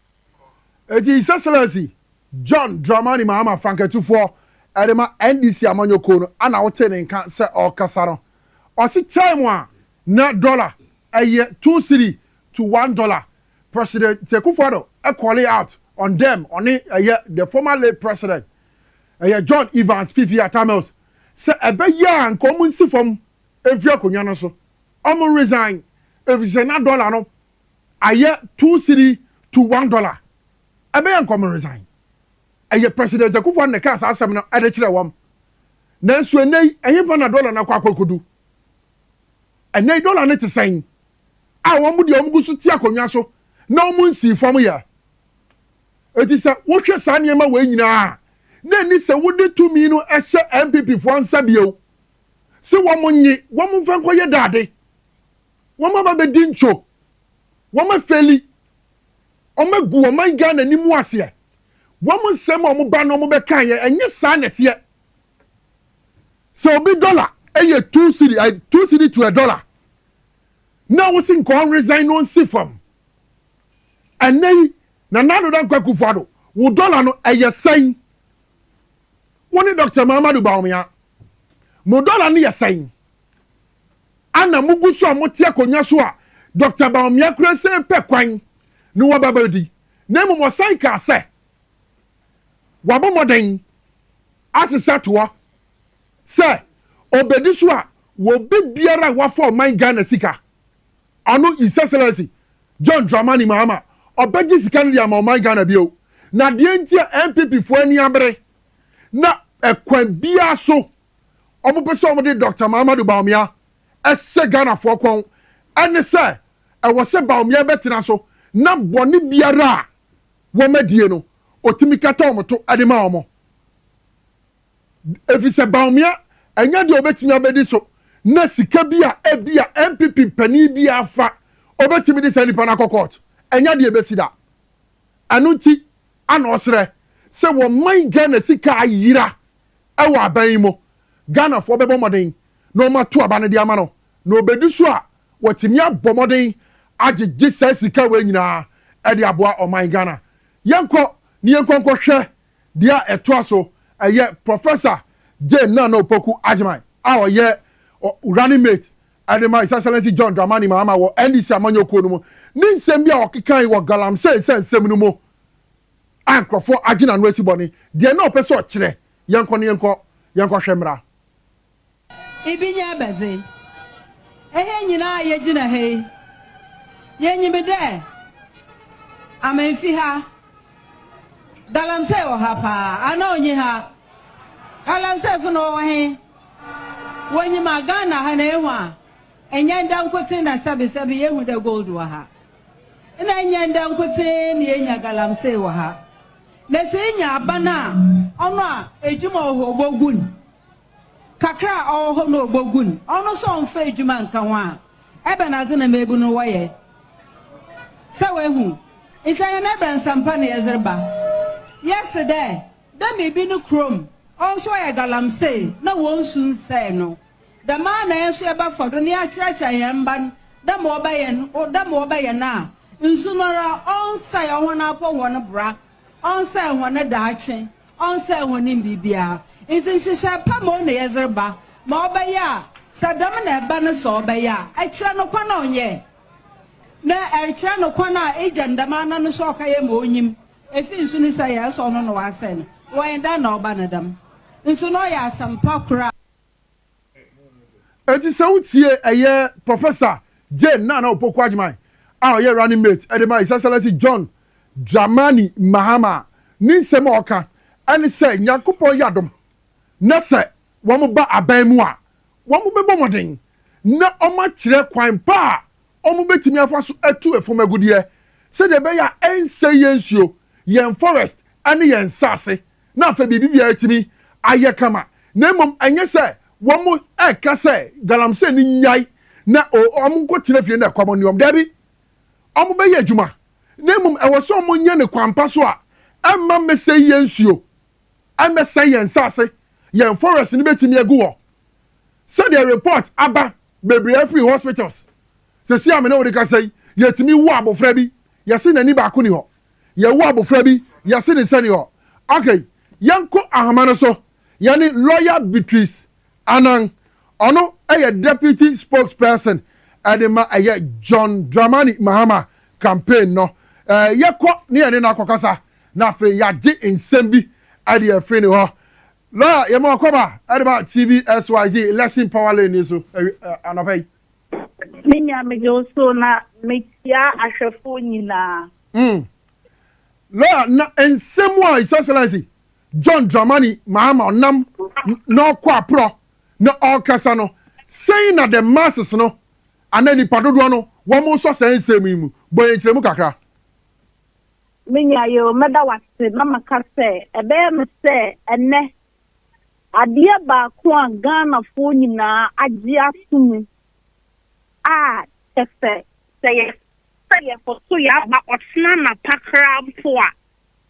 Enti His Excellency John Dramani Mahama Franketufoɔ de ma NDC amanyɔkuo no ana wotee ne nka sɛ ɔrekasa no, ɔse time a na dollar yɛ two cedi to one dollar, President Nti Akufo Addo called out on them, ɔne ɛyɛ the former late President ɛyɛ John Evans Fifi Atta Mills sɛ ɛbɛyɛ a nka wɔn nsi fam mfiri akonnwa no so, wɔn resign efisɛ na dollar no ayɛ two cedi to one dollar ɛbɛyɛ nkɔm resign ɛyɛ president akufo ado na ɛkaa saa asɛm no ɛde kyerɛ wɔn nanso ɛnɛ yi ɛhefa na dollar no akɔ akɔkodu ɛnɛ yi dollar no te sɛn a wɔn deɛ wɔn gu so ti akonnwa so na wɔn nsii fam yɛ eti sɛ wohwɛ saa nneɛma wɔ nyinaa na ɛni sɛ wode tumi no ɛhyɛ npp foɔ nsa bio sɛ wɔn nye wɔn mfa nkɔyɛ daade. Wɔn aba bɛdi ntwo. Wɔn afeli. Wɔagu ɔman Ghana anim aseɛ. Wɔn nsɛm a wɔn ba no wɔn bɛkaeɛ, ɛnyɛ saa na ɛteɛ. Sɛ obi dɔla yɛ two cedi, two cedi to a dɔla, na wosi nka ɔn resign na ɔnsi fam. Ɛnɛ yi, Nana Addo Dankwa Akufo-Addo, wo dɔla no ɛyɛ sɛn? Wo ne Doctor Mahamadou Bawumia, mo dɔla no yɛ sɛn? a na mugu so a mote akonnwa so a Dɔkta Bawumia kura sɛ epɛ kwan ne wɔn aba bedi, na mmom ɔsan kaa sɛ wabɔ mmɔden asesa toa sɛ obedi so a wɔ bɛ biara a wafa ɔman Ghana sika. Ɔno His Excellency John Dramani Mahama ɔbɛgye sika no de ama ɔman Ghana bio, na deɛ nti a NPP foɔ ani abere na ɛkwan biara so, wɔn pɛ sɛ wɔn de Doctor Mahamadou Bawumia hyɛ Ghanafoɔ kɔn ɛne sɛ ɛwɔ sɛ Bawumia bɛtena so na bɔne biara a wɔn adie no ɔtumi kata wɔn to de ma wɔn ɛfiri sɛ Bawumia ɛnyɛ deɛ ɔbɛtumi abɛdi so na sika bi a ɛbi a NPP panin bi afa ɔbɛtumi de saa nipa no akɔ court ɛnyɛ deɛ ɛbɛsi da ɛno nti Ana ɔserɛ sɛ wɔman Ghana sika ayera wɔ aban yi mu? Ghanafoɔ bɛbɔ mmɔden na wɔato aba no de ama no na ɔbɛdi so a wɔatumi abɔ mmɔden agyegye saa sika wei nyinaa de aboa ɔman Ghana. Yɛnkɔ na yɛnkɔ nkɔhwɛ deɛ a ɛtoa so, ɛyɛ Professor Jane Nana Opoku Agyemang a ɔyɛ running mate Ɛde ma His Excellency John Dramani Mahama wɔ NDC amanyɔkuo no mu ne nsɛm bi a ɔkekae wɔ Galamsey sɛ nsɛm no mu a nkurɔfoɔ agye n'ano asi bɔne. Deɛ na ɔpɛ sɛ ɔkyerɛ, yɛnkɔ no yɛnkɔ, yɛnkɔhwɛ mmra. Ibi nyɛ abɛdze. Hɛn nyina a yegyina ha yi, yenyim dɛ amennfi ha. Galamsey wɔ ha paa, anaa onnyi ha? Galamseyfo no wɔwɔ he? Wonyim a Ghana ha na ehu a nnyɛ ndɛ nkotsee na sɛbesɛbe yehu dɛ gold wɔ ha. Nna nnyɛ ndɛ nkotsee na yenya galamsey wɔ ha. Na sɛ inya aban a ɔno a edwuma wɔ hɔ obogu no, kakra a ɔwɔ hɔ no obogu no, ɔno so ɔmmfa edwuma nnka ho a, ebɛnadze na mbeebu no wɔyɛ? Sɛ woehu? Ntsi ɔnnyɛ ndɛ nsɛmpa na yɛdze reba. Yɛse dɛ Dɛ biribi no kurom hɔ so ɔyɛ galamsee na hɔn su nnsɛɛ no, dɛm ara na hɛn so yɛbɛfa do na yɛakyerɛkyerɛ hɛn mba no dɛ ma wɔbɛyɛ no, dɛ ma wɔbɛyɛ no a, nsu no ara ɔnnsɛɛ hɔn apɔw, hɔn bra, ɔnnsɛɛ hɔn daakye, ɔnnsɛɛ hɔn biribiara. Ntsi nhyehyɛɛ pa mbom na yɛdze reba, ma ɔbɛyɛ a sɛ dɛm na ɛba no sɛ ɔbɛyɛ a, ɛkyerɛ no kwan a ɔnyɛɛ, na ɛrekyerɛ no kwan a egya no dɛm ara na no so ɔkɛyɛ ma onyim. Efi nso ne sɛ yɛɛ sɛ ɔno na ɔasɛɛ no, wɔnye da na ɔba no dɛm. Nso na ɔyɛ asɛmpa kor a. Enti sɛ wo tie ɛyɛ Professor Jane Nana Opoku Agyemang a ɔyɛ running mate ɛde ma His Excellency John Dramani Mahama a, ne nsɛm a ɔka ɛne sɛ Nyankopɔn yɛ adom na sɛ wɔba aban mu a, wɔbɛbɔ mmɔden na wɔakyerɛ kwan pa a wɔbɛtumi afa so atu ɛfam agudeɛ sɛdeɛ ɛbɛyɛ a ɛrensɛe yɛn nsuo, yɛn forest ne yɛn nsase na afei biribiara atumi ayɛ kama na mmom ɛnyɛ sɛ wɔreka sɛ galamsey no nnyae na wɔnkɔtena fie na ɛkɔm nne wɔn. Daabi, wɔbɛyɛ adwuma na mmom ɛwɔ sɛ wɔyɛ no kwan pa so a ɛremma mmɛsɛe yɛn nsuo. ɛmmɛsɛe yɛn nsase, yɛn forest no bɛtumi agu hɔ. Sɛdeɛ report aba bebree afiri hospitals, seesei a me ne wo rekasa yi, yɛtumi wo abɔfra bi, yɛse n'ani baako nni hɔ. Yɛwo abɔfra bi, yɛse ne nsa nni hɔ. Okay, yɛnkɔ ahoma no so, yɛne lawyer Beatrice Anang, ɔno yɛ Deputy Spokesperson de ma ɛyɛ John Dramani Mahama campaign no. Yɛkɔ ne yɛne no akɔkasa na afei yɛagye nsɛm bi de afiri ne hɔ. Lawyer, yɛma wakɔba de ba TV SYZ Election Power Lane yi so anɔpa yi. Me nua megye wo so na mekyia ahwɛfoɔ nyinaa. Lawyer, na nsɛm a His Excellency John Dramani Mahama ɔnam na ɔkɔ aprɔ na ɔrekasa no, sɛn na the masses no anaa nipa dodoɔ no wɔn nsɔ saa nsɛm yi mu? Bɔ yɛn nkyerɛmu kakra. Me nua yeo, mɛda wo ase na maka sɛ ɛbɛyɛ me sɛ ɛnnɛ adeɛ baako a Ghanafoɔ nyinaa agye ato mu a kyɛ sɛ sɛ yɛpɛ sɛ yɛkɔ so yɛaba ɔkyena anapa koraa mpo a,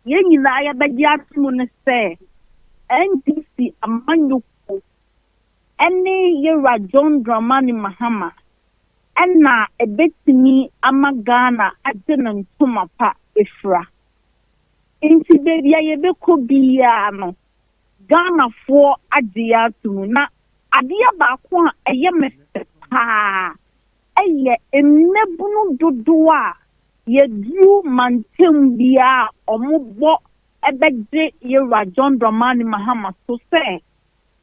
yɛn nyinaa yɛbɛgye atom ne sɛ NDC amanyɔkuo ne Yewura John Dramani Mahama na ɛbɛtumi ama Ghana agye ne ntoma pa afira. Nti baabi a yɛbɛkɔ biara no, Ghanafoɔ agye yɛn atom. Na adeɛ baako a ɛyɛ me fɛ paa yɛ mmabunu dodoɔ a yɛduru mantam biara a wɔbɔ bɛgye Yerwra John Dramani Mahama so sɛ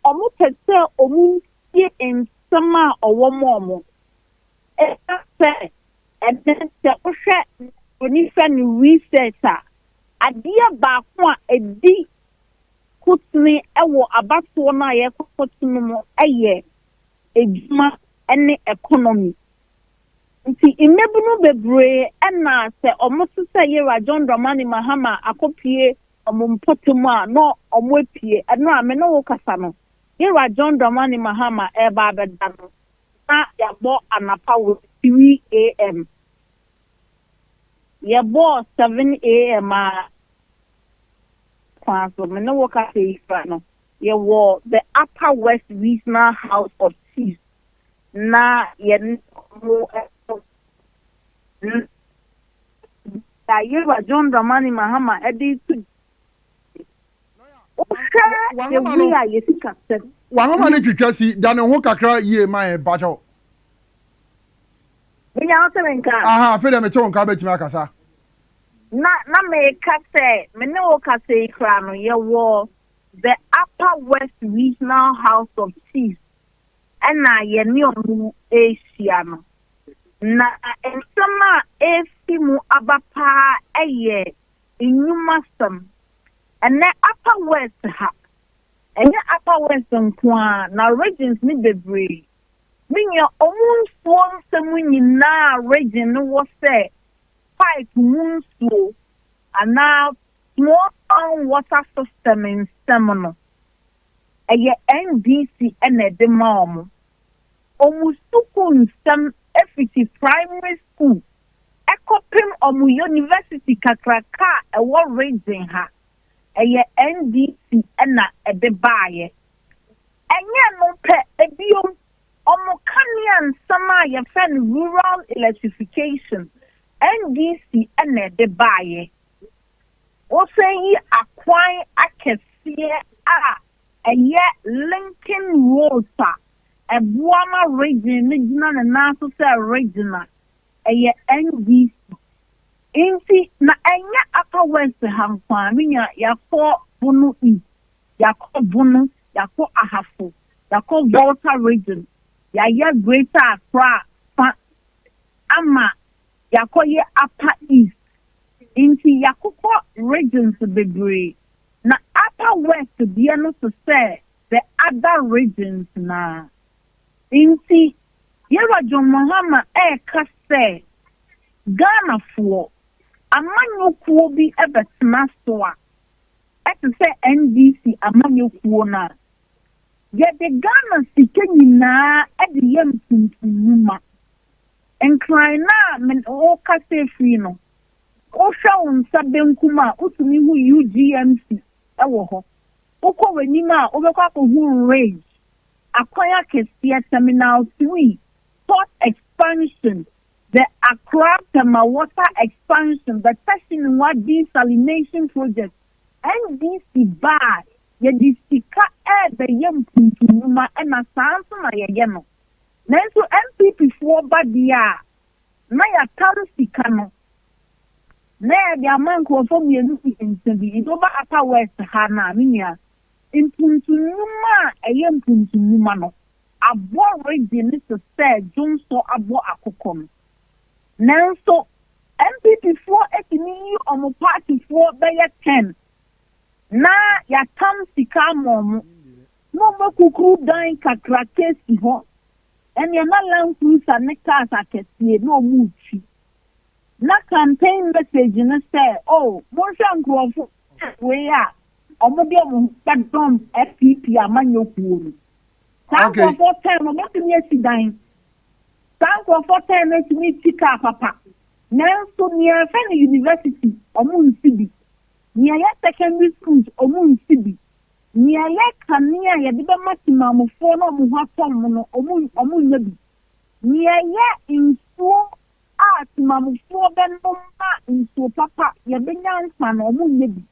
wɔpɛ sɛ wɔntie nsɛm a ɔwɔ ma wɔn. Ɛsiane sɛ ɛnnɛ sɛ wohwɛ mfonyinhwɛ ne research a, adeɛ baako a ɛdi kotene wɔ abatoɔ no a yɛrekɔto no mu yɛ adwuma ne economy. Nti mmabunu bebree na sɛ ɔmo te sɛ yera John Dramani Mahama akɔpue ɔmo mpɔtam a na ɔmo apue. Ɛno a me ne wo kasa no yera John Dramani Mahama ɛɛba abɛda no na yabɔ anapa wɔ 3 AM. Yɛbɔɔ 7 AM aa kwan so me ne wo kasa yi kura no. Yɛwɔ The Upper West Regional House of Chiefs na yɛne ɔmo ɛkɔ na a Yewura John Dramani Mahama de reto dwa yi, wohwɛ the way a yɛ sikasɛm. W'ahoma no twitwa si da ne ho kakra yie ma yɛn mpakyɛ wo. Menya wo te me nka? Ahaa afei deɛ mete wo nka wobɛtumi akasa. Na na meka sɛ me ne wo kasa yi koraa no yɛwɔ The Upper West Regional House of Chiefs na yɛne wɔn rehyia no, na nsɛm a ɛrefi mu aba paa yɛ nnwumasɛm. Ɛnnɛ Upper West ha, ɛnyɛ Upper West nko ara, na regions no bebree, me nua, wɔn nsuo nsɛm nyinaa region no wɔ sɛ pipe mu nsuo anaa Small Town Water System nsɛm no, ɛyɛ NDC na ɛde ma wɔn. Wɔn sukuu nsɛm fiti primary school kɔpem wɔn yonivɛsiti kakraka a ɛwɔ region ha, ɛyɛ NDC na ɛde baeɛ. Ɛnyɛ ɛno pɛ, bio, wɔn kanea nsɛm a yɛfrɛ no rural electrification, NDC na ɛde baeɛ. Wosan yi akwan akɛseɛ a ɛyɛ linking roads a ɛboa ma region no gyina ne nan so sɛ region a ɛyɛ NDC nti na ɛnyɛ Upper West ha nko ara, me nua, yɛakɔ Bono East, yɛakɔ Bono, yɛakɔ Ahafo, yɛakɔ Volta region, yɛayɛ Greater Accra fa ama Yɛakɔ yɛ Upper East nti yɛakokɔ regions bebree na Upper West deɛ no tesɛ the other regions no ara nti Yɛwura John Mahama ɛreka sɛ Ghanafoɔ amanyɔkuo bi bɛtena so a ɛtesɛ NDC amanyɔkuo no a yɛde Ghana sika nyinaa de yɛ ntontom nnwuma. Nkran no a me ne wo kasa firi no, wohwɛ wo nsa benkum a, wotumi hu UGMC wɔ hɔ. Wokɔ w'anim a, wobɛkɔ akɔhu Ridge, Akwan Akɛseɛ, Terminal Three, Port Expansion, The Accra Tema Water Expansion, The Tashinwa Desalination Project, NDC ba a yɛde sika rebɛyɛ mpuntu nnwuma na saa nso na yɛyɛ no. Nanso NPP foɔ ba deɛ a, na yɛatam sika no, na yɛde ama nkurɔfoɔ mmienu mmiɛnsa bi, nti woba Upper West ha no a, me nua, mpuntu nnwuma a ɛyɛ mpuntu nnwuma no, abɔ regye no te sɛ dwonsɔ abɔ akokɔ no. Nanso NPP foɔ atumi yi wɔn party foɔ bɛyɛ ten, na yɛatam sika ama wɔn. Na ɔma kukuruw dan kakraka si hɔ. Ɛnneɛ na land cruiser ne cars akɛseɛ na wɔretwi. Na campaign message ne sɛ, Oh, monhwɛ nkorɔfoɔ wei a wɔde wɔn ho bɛdɔm FPP amanyɔkuo no. Saa nkorɔfoɔ tan no wɔbɛtumi asi dan. Saa nkorɔfoɔ tan no atumi atwi car papa. Nanso nea yɛfrɛ no university, wɔnsi bi. Nea ɛyɛ secondary schools, wɔnsi bi. Nea ɛyɛ kanea a yɛde bɛma temanmufoɔ na wɔn ho atɔ wɔn no, wɔnnya bi. Nea ɛyɛ nsuo a temanmufoɔ bɛnom ma nsuo papa yɛbɛnya nkwa no, wɔnnya bi.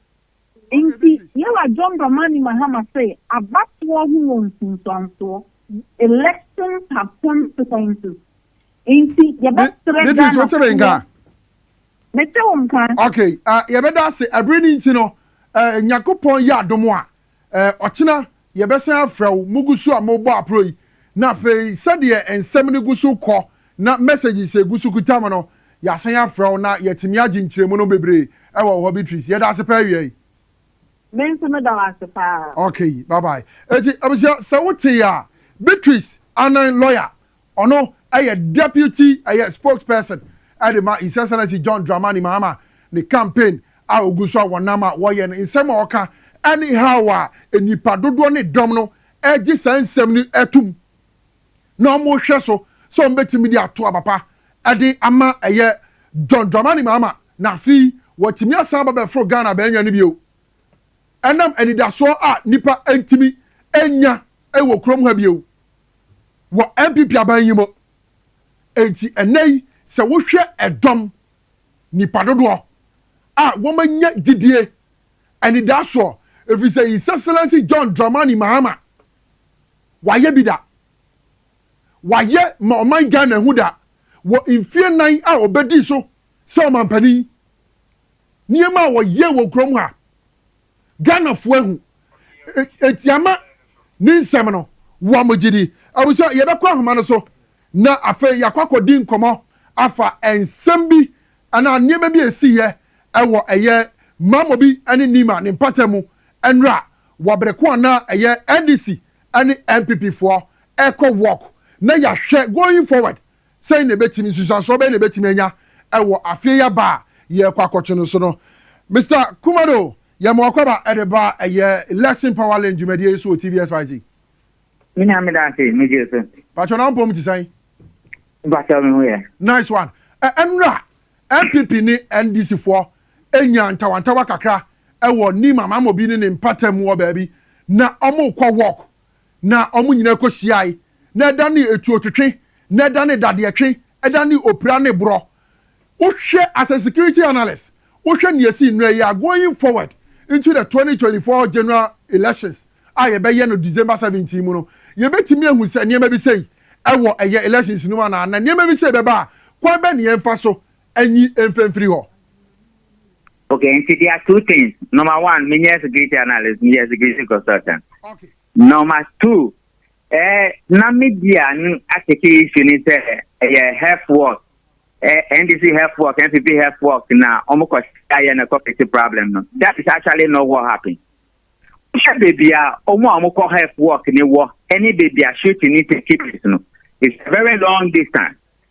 Enti Yɛwura John Dramani Mahama se, Abatoɔ ho wɔ nsunsuansoɔ, elections have consequences, enti yɛbɛsrɛ Ghanafoɔ. Mete wo nka. Okay, ah, yɛbɛda ase. Ɛbere no nti no, eh, Nyankopɔn yɛ adom a, eh, ɔkyena yɛbɛsan afrɛ wo. Mogu so a mobɔ apro yi, na afei sɛdeɛ nsɛm no gu so kɔ na messages a egu so kuta mo no, yɛasan afrɛ wo na yɛatumi agye nkyerɛmu no bebree wɔ wo hɔ, Beatrice. Yɛda ase paa awiei. Me nso meda wo ase paa. Okay, bye bye. Enti, abusua, sɛ wotee a, Beatrice Annan Lawyer, Ɔno yɛ Deputy ɛyɛ Spokesperson de ma His Excellency John Dramani Mahama ne campaign a ogu so a wɔnam a wɔyɛ no. Nsɛm a ɔka ne haw a nnipa dodoɔ ne dɔm no gye saa nsɛm no tom na wɔhwɛ so sɛ wɔbɛtumi de ato aba pa de ama ɛyɛ John Dramani Mahama na afei wɔatumi asan aba bɛforo Ghana abɛnwɛn no bio ɛnam anidasoɔ a nnipa ntumi nnya wɔ kurom ha bio. wɔ NPP aban yi mu. Enti ɛnnɛ yi sɛ wohwɛ ɛdɔm, nnipa dodoɔ a wɔanya gyidie anidaasoɔ ɛfiri sɛ His Excellency John Dramani Mahama wayɛ bi da, wayɛ ma ɔman Ghana ahu da wɔ mfeɛ nan a ɔbɛdii so sɛ ɔmampanin, nneɛma a ɔyɛɛ wɔ kurom ha Ghanafoɔ ahu enti ama ne nsɛm no wɔn gye di. Abusua, yɛbɛkɔ ahoma no so na afei yɛakɔ akɔdi nkɔmmɔ afa nsɛm bi anaa nneɛma bi a ɛsiiɛ wɔ ɛyɛ Mamobi ne Nima ne mpata mu nnora wɔ bere ko a na ɛyɛ NDC ne NPP foɔ ɛrekɔ walk na yɛahwɛ going forward Sɛn na ebetumi, nsunsuansoɔ bɛn na ebetumi anya wɔ afeɛ yi aba a yɛrekɔ akɔto no so no? Mister Kumado, yɛma w'akwaba de ba ɛyɛ Election Power Link dwumadie yi so wɔ TVSYZ. Me nua meda ase, megye so. Pakyɛ na wo mpɔm te sɛn? Pakyɛ me ho yɛ. Nice one. Ɛ ɛnora NPP ne NDC foɔ nyaa ntawantawa kakra wɔ Nim Amamobi ne ne mpatamu wɔ baabi na wɔrekɔ walk Na wɔn nyinaa kɔhyiae, na ɛda ne etuotwetwe, na ɛda ne dadeɛtwe, ɛda ne opira ne borɔ. Wohwɛ as a security analyst, wohwɛ nea ɛsii nnɛ yi a, going forward into the twenty twenty four general elections a yɛbɛyɛ no December seventeen mu no, yɛbɛtumi ahu sɛ nneɛma bi sei wɔ ɛyɛ elections no mu anaa? Na nneɛma bi sei bɛba a, kwan bɛn na yɛmfa so nyi mfa mfiri hɔ? Okay, nti there are two things. Number one, me nyɛ security analyst, me yɛ security consultant. Okay. Number two, eh, na me di a no ateke issue ni sɛ ɛyɛ health work, eh, NDC health work, NPP health work na ɔmo kɔ ayɛ na ɛkɔ fix problem no. That is actually not what happened. Wohwɛ baby a ɔmo a ɔmo kɔ health work ni wɔ ɛne baby a shooting ni take place no. It's a very long distance.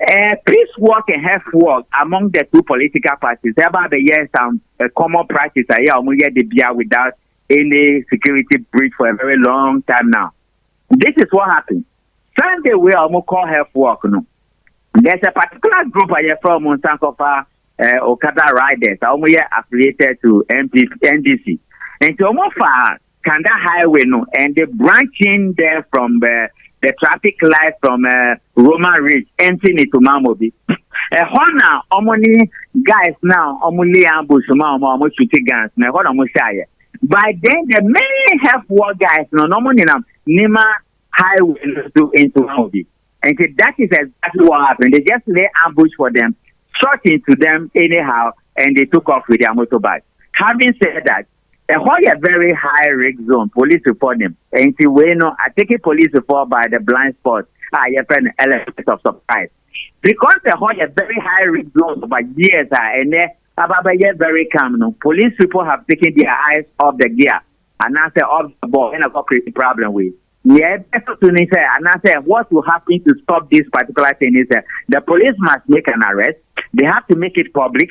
Eh, peace walk and health walk among the two political parties. Ẹ bá bẹ yẹ some uh, common practice ayé a ọmọ yẹ de bia without any security breach for a very long time now. This is what happened. Sunday wey a ọmọ call health walk no. There's a particular group ayẹ fẹ ọmọ nsankofa uh, Okada riders a ọmọ yẹ affiliated to NDC. Nti ọmọ fa Kanda Highway no and the branching there from the the traffic light from uh, Roman Ridge empty ne to Mamobi. Ɛhɔ na wɔn ne guys na wɔn lay ambush ma wɔn a wɔn shoot guns na ɛhɔ na wɔn hyɛ ayɛ. By then the main help war guys no na wɔn nenam Nima highway no so into Mamobi. And so that is exactly what happened. They just lay ambush for them, shot into them anyhow, and they took off with their motorbike. Having said that, Ɛhɔ yɛ very high risk zone polisifɔ nim nti wei no ateke polisifɔ by the blind spot a yɛfrɛ no element of surprise because ɛhɔ yɛ very high risk zone over years a ɛnɛ aba bɛyɛ very calm no police people have taken their eyes off the gear anaasɛ off the ball ɛna kɔ create problem wei nea ɛbɛso so ni sɛ anaasɛ what will happen to stop this particular thing is that the police must make an arrest they have to make it public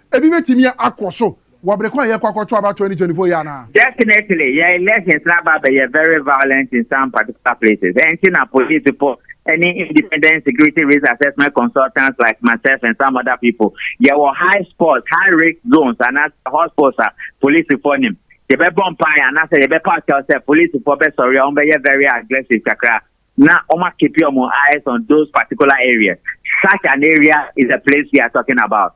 Ebi betumi akɔ so wɔ bere ko a yɛrekɔ akɔto aba twenty twenty four yi anaa? Definitely, yɛn elections no aba abɛyɛ very violent in some particular places, ɛnti na polisifo ne independent security risk assessment consultants like myself and some other people yɛwɔ high spots, high risk zones anaasɛ hot spots a polisifo nim. Yɛbɛbɔ mpae anaasɛ yɛbɛpaw kyɛw sɛ polisifo bɛsɔre a wɔbɛyɛ very aggressive kakra na wɔakeepi wɔn eyes on those particular areas. Such an area is the place we are talking about.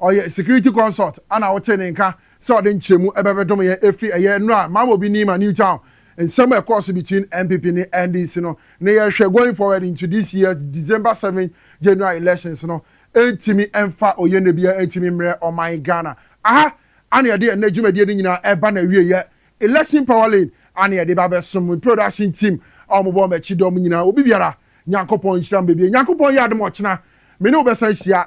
Ɔyɛ security consult a na wotee ne nka sɛ ɔde nkyerɛmu bɛbɛdom yɛn efi ɛyɛ nnora a Mama Obi Nima New Town nsɛm a ɛkɔɔ so between NPP ne NDC no ne yɛhwɛ going forward into this year's December seven General Elections no ntumi mfa oyenɛ biara ntumi mmrɛ ɔman Ghana. Aha ara na yɛde ɛnnɛ dwumadie no nyinaa ɛba n'awieɛ. Election Power Lane ara na yɛde ba abɛsom. Me production team a wɔbɔ m'akyi dɔm nyinaa, obi biara Nyankopɔn nhyira mo bebree. Nyankopɔn yɛ adom ɔkyena me ne wo bɛsan hyia.